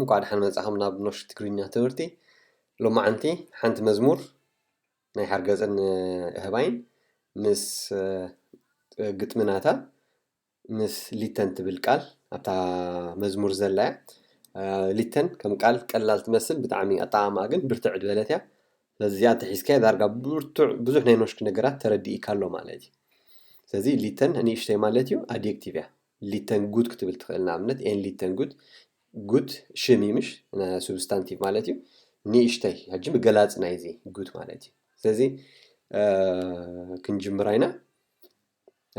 እንቋዕ ደሓን መጻኹም ናብ ኖሽ ትግርኛ ትምህርቲ ሎማዓንቲ ሓንቲ መዝሙር ናይ ሓርገጽን እህባይን ምስ ግጥሚ ናታ ምስ ሊተን ትብል ቃል ኣብታ መዝሙር ዘላ እያ ሊተን ከም ቃል ቀላል ትመስል ብጣዕሚ ኣጠዓማኣ ግን ብርትዕ ዝበለት እያ ስለዚ እዚኣ ተሒዝካዮ ዳርጋ ብርቱዕ ብዙሕ ናይ ኖሽክ ነገራት ተረዲእካ ኣሎ ማለት እዩ ስለዚ ሊተን ንእሽተይ ማለት እዩ ኣድየክቲቭ እያ ሊተን ጉድ ክትብል ትኽእል ንኣብነት ኤን ሊተን ጉድ ጉት ሽም እዩ ምሽ ሱብስታንቲቭ ማለት እዩ ንእሽተይ ሕጂ ብገላፂ ናይዚ ጉት ማለት እዩ ስለዚ ክንጅምራ ኢና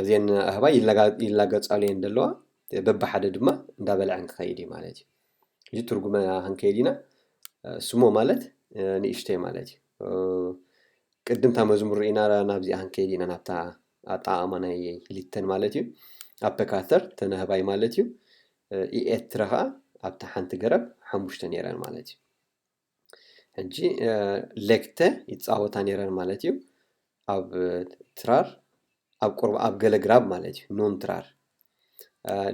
እዚን ኣህባ ይላገፃሉ እየን ዘለዋ በብሓደ ድማ እንዳበልዐን ክኸይድ እዩ ማለት እዩ እዚ ትርጉመ ክንከይድ ኢና ስሞ ማለት ንእሽተይ ማለት እዩ ቅድምታ መዝሙር ርኢና ናብዚኣ ክንከይድ ኢና ናብታ ኣጠቃቅማ ናይ ሊተን ማለት እዩ ኣፐካተር ተነህባይ ማለት እዩ ኢኤትረ ከኣ ኣብታ ሓንቲ ገረብ ሓሙሽተ ነይረን ማለት እዩ። ሕጂ ሌክተ ይጻወታ ነይረን ማለት እዩ። ኣብ ትራር ኣብ ቁርብ ኣብ ገለ ግራብ ማለት እዩ ኖን ትራር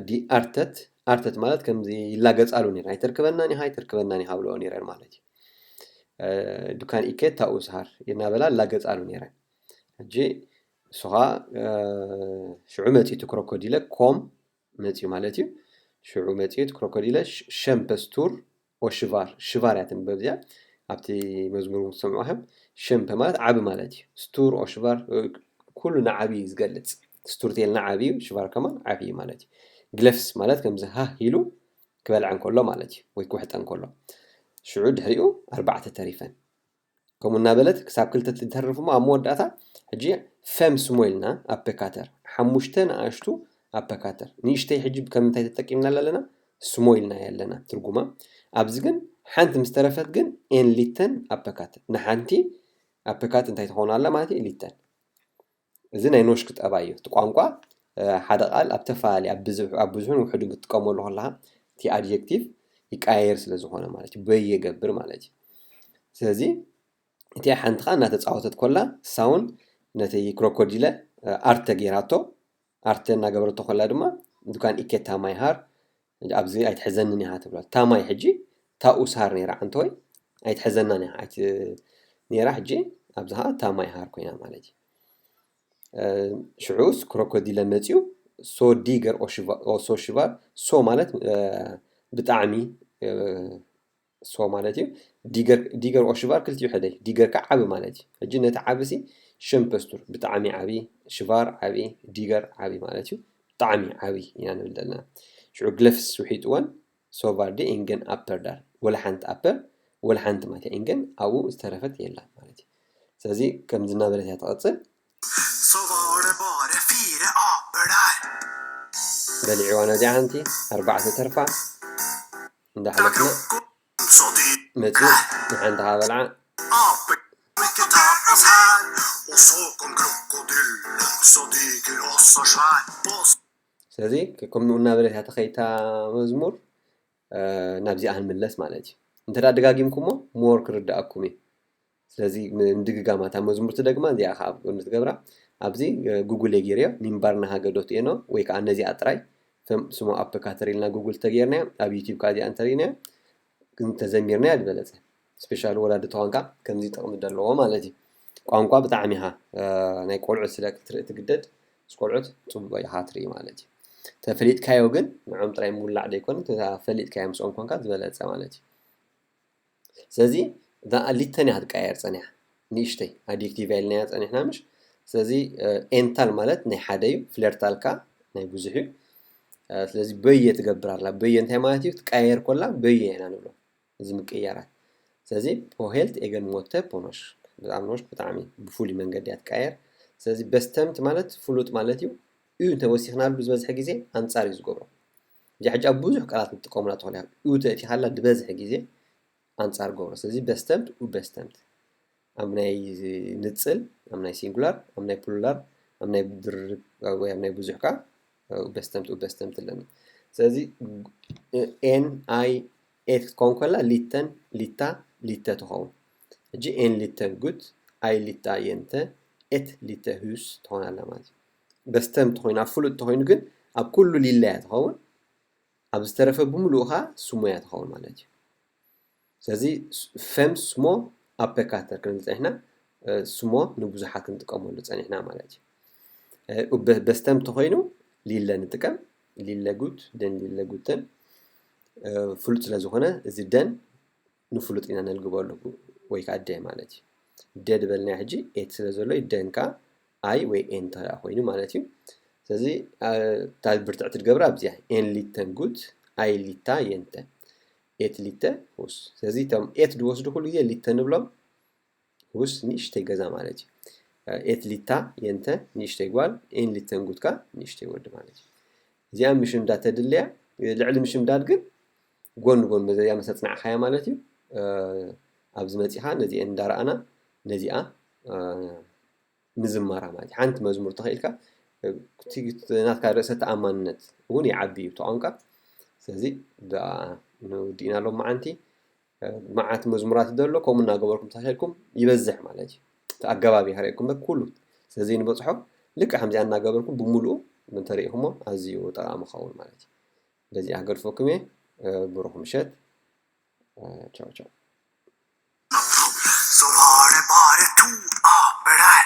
ዲ ኣርተት ኣርተት ማለት ከምዚ ይላገጻሉ ነይረን ኣይተርክበናን ኢኻ ኣይተርክበናን ኢኻ ብለኦ ነይረን ማለት እዩ። ዱካን ኢኬት ታኡ ስሃር እናበላ ላገጻሉ ነይረን ሕጂ ንሱ ከዓ ሽዑ መፂኡ እቲ ክሮኮዲለ ኮም መጽዩ ማለት እዩ ሽዑ መጽዩ እቲ ክሮኮዲለ ሸምፐስቱር ኦሽቫር ሽቫር እያ ትንበብዚያ ኣብቲ መዝሙር ትሰምዑ ከም ሸምፐ ማለት ዓቢ ማለት እዩ ስቱር ኦሽቫር ኩሉ ንዓብዪ እዩ ዝገልጽ ስቱርቴል ንዓብ እዩ ሽቫር ከማን ዓብ እዩ ማለት እዩ ግለፍስ ማለት ከምዚ ሃ ኢሉ ክበልዐ እንከሎ ማለት እዩ ወይ ክውሕጠ እንከሎ ሽዑ ድሕሪኡ ኣርባዕተ ተሪፈን ከምኡ እናበለት ክሳብ ክልተ ትተርፍ እሞ ኣብ መወዳእታ ሕጂ ፈም ስሞ ኢልና ኣፐካተር ሓሙሽተ ንኣሽቱ ኣፐካተር ንእሽተይ ሕጂ ከምንታይ ተጠቂምናላ ኣለና ስሞ ኢልናያ ኣለና ትርጉማ ኣብዚ ግን ሓንቲ ምስ ተረፈት ግን ኤን ሊተን ኣፐካተር ንሓንቲ ኣፐካት እንታይ ትኸውን ኣላ ማለት እዩ ሊተን እዚ ናይ ኖሽክ ጠባይ እዩ። እቲ ቋንቋ ሓደ ቃል ኣብ ተፈላለየ ኣብ ብዝሕ ኣብ ብዙሕን ውሕድን ክትጥቀመሉ ከለኻ እቲ ኣድጀክቲቭ ይቀያየር ስለ ዝኾነ ማለት እዩ በይ የገብር ማለት እዩ። ስለዚ እቲ ሓንቲ ከዓ እናተፃወተት ኮላ ሳውን ነቲ ክሮኮዲለ ኣርተ ጌራቶ ኣርተ እናገበረቶ ኮላ ድማ ዱካን ኢኬታ ማይሃር ኣብዚ ኣይትሕዘንን ኢኻ ትብላ እታ ማይ ሕጂ ታኡ ሳር ነይራ ዓንተወይ ኣይትሕዘናን ኢኻ ኣይቲ ነይራ ሕጂ ኣብዚ ኸዓ እታ ማይ ሃር ኮይና ማለት እዩ ሽዑስ ክሮኮዲለ መፅኡ ሶ ዲገር ኦሶ ሽቫር ሶ ማለት ብጣዕሚ ሶ ማለት እዩ ዲገር ዲገር ኦሽቫር ክልቲኡ ሕደይ ዲገር ከዓ ዓቢ ማለት እዩ ሕጂ ነቲ ዓቢ ሲ ሸምፐስቱር ብጣዕሚ ዓቢ ሽቫር ዓቢ ዲገር ዓቢ ማለት እዩ ብጣዕሚ ዓቢ ኢና ንብል ዘለና ሽዑ ግለፍስ ውሒጥወን ሶቫር ዲ ኢንገን ኣፐር ዳር ወላ ሓንቲ ኣፐር ወላ ሓንቲ ማለት እዩ ኢንገን ኣብኡ ዝተረፈት የላን ማለት እዩ ስለዚ ከምዚ እናበለት እያ ትቐፅል በሊዕዋ ነዚኣ ሓንቲ ኣርባዕተ ተርፋ እንዳሕለፍና መጽዩ ንሓንቲ ካበልዓ ስለዚ ከምኡ እናበለት እያ ተኸይታ መዝሙር ናብዚኣ ክንምለስ ማለት እዩ እንተ ደጋጊምኩሞ ሞር ክርድኣኩም እዩ ስለዚ ምድግጋማ እታ መዝሙር ትደግማ እዚኣ ከዓ ኣብ ጎኒ ትገብራ ኣብዚ ጉግል እየ ገይረዮ ሚንባር ናሃገ ዶት ኤኖ ወይ ከዓ ነዚኣ ጥራይ ከም ስሙ ኣፕ ካተሪልና ጉግል ተገይርናያ ኣብ ዩቲብ ከዓ እዚኣ እንተሪእናያ እንተዘሚርናያ ዝበለፀ ስፔሻሊ ወላዲ ተዋንካ ከምዚ ጥቕሚ ዘለዎ ማለት እዩ ቋንቋ ብጣዕሚ ኢኻ ናይ ቆልዑት ስለ ክትርኢ ትግደድ ምስ ቆልዑት ፅቡቕ ኢኻ ትርኢ ማለት እዩ ተፈሊጥካዮ ግን ንዖም ጥራይ ምውላዕ ዘይኮነ ፈሊጥካዮ ምስኦም ኮንካ ዝበለፀ ማለት እዩ ስለዚ እታ ሊተን እያ ክትቀያየር ፀኒሓ ንእሽተይ ኣዲክቲቭ እያ ኢልናያ ፀኒሕና ምሽ ስለዚ ኤንታል ማለት ናይ ሓደ እዩ ፍለርታል ከዓ ናይ ብዙሕ እዩ ስለዚ በየ ትገብር ኣላ በየ እንታይ ማለት እዩ ክትቀያየር ኮላ በየ ኢና ንብሎ እዚ ምቅያራት ስለዚ ፖሄልት ኤገን ሞተ ፖኖሽ ብጣዕሚ ኖሽ ብጣዕሚ ብፍሉይ መንገዲ እያ ትቀያየር ስለዚ በስተምት ማለት ፍሉጥ ማለት እዩ እዩ እንተወሲኽናሉ ዝበዝሐ ግዜ ኣንፃር እዩ ዝገብሮ እዚኣ ሕጂ ኣብ ብዙሕ ቃላት ንጥቀመላ ትኾን እያ። ኡ ተእቲኻላ ዝበዝሐ ግዜ ኣንጻር ገብሮ። ስለዚ በስተምት፣ ኡበስተምት። ኣብ ናይ ንጽል፣ ኣብ ናይ ሲንጉላር፣ ኣብ ናይ ፕሉላር፣ ኣብ ናይ ድርብ ወይ ኣብ ናይ ብዙሕ ከኣ ኡበስተምት፣ ኡበስተምት ኣለና። ስለዚ ኤን ኣይ ኤት ክትከውን ከላ ሊተን፣ ሊታ፣ ሊተ ትኸውን። ሕጂ ኤን ሊተ ጉት፣ ኣይ ሊታ የንተ፣ ኤት ሊተ ሁስ ትኾን ኣላ ማለት እዩ። በስተ እንተኾይኑ ኣብ ፍሉጥ እንተኾይኑ ግን ኣብ ኩሉ ሊላ እያ ትኸውን ኣብ ዝተረፈ ብምሉኡ ኸዓ ስሞ እያ ትኸውን ማለት እዩ ስለዚ ፈም ስሞ ኣፐካተር ክንብል ፀኒሕና ስሞ ንብዙሓት ክንጥቀመሉ ፀኒሕና ማለት እዩ በስተም ተኾይኑ ሊለ ንጥቀም ሊለ ጉት ደን ሊለ ጉትን ፍሉጥ ስለ ዝኾነ እዚ ደን ንፍሉጥ ኢና ነልግበሉ ወይ ከኣ ደ ማለት እዩ። ደ ዝበልናዮ ሕጂ ኤት ስለ ዘሎ እዩ ደን ከኣ ኣይ ወይ ኤን እንተ ኮይኑ ማለት እዩ። ስለዚ እታ ብርትዕቲ ትገብራ ኣብዚኣ ኤን ሊተን ጉት ኣይ ሊታ የንተ ኤት ሊተ ሁስ። ስለዚ እቶም ኤት ዝወስዱ ኩሉ ግዜ ሊተ ንብሎም ሁስ ንእሽተይ ገዛ ማለት እዩ። ኤት ሊታ የንተ ንእሽተይ ጓል ኤን ሊተን ጉት ከኣ ንእሽተይ ወዲ ማለት እዩ። እዚኣ ምሽምዳድ ተድልያ ልዕሊ ምሽምዳድ ግን ጎን ጎን በዘያ ምስ ኣጽናዕካያ ማለት እዩ ኣብዚ መጺኻ ነዚኤን እንዳረኣና ነዚኣ ምዝማራ ማለት ሓንቲ መዝሙር ተኽኢልካ ናትካ ርእሰ ተኣማንነት እውን ይዓቢ እዩ ተቋንቃ ስለዚ ብኣ ንውዲእና ሎም መዓንቲ መዓት መዝሙራት ደሎ ከምኡ እናገበርኩም ተኸልኩም ይበዝሕ ማለት እዩ እቲ ኣገባብ ይሃርየኩም በር ኩሉ ስለዚ ንበፅሖ ልክዕ ከምዚኣ እናገበርኩም ብምሉኡ እንተሪኢኹሞ ኣዝዩ ጠቓሚ ኸውን ማለት እዩ በዚኣ ገድፈኩም እየ ብሩኽ ምሸት ቻው ቻው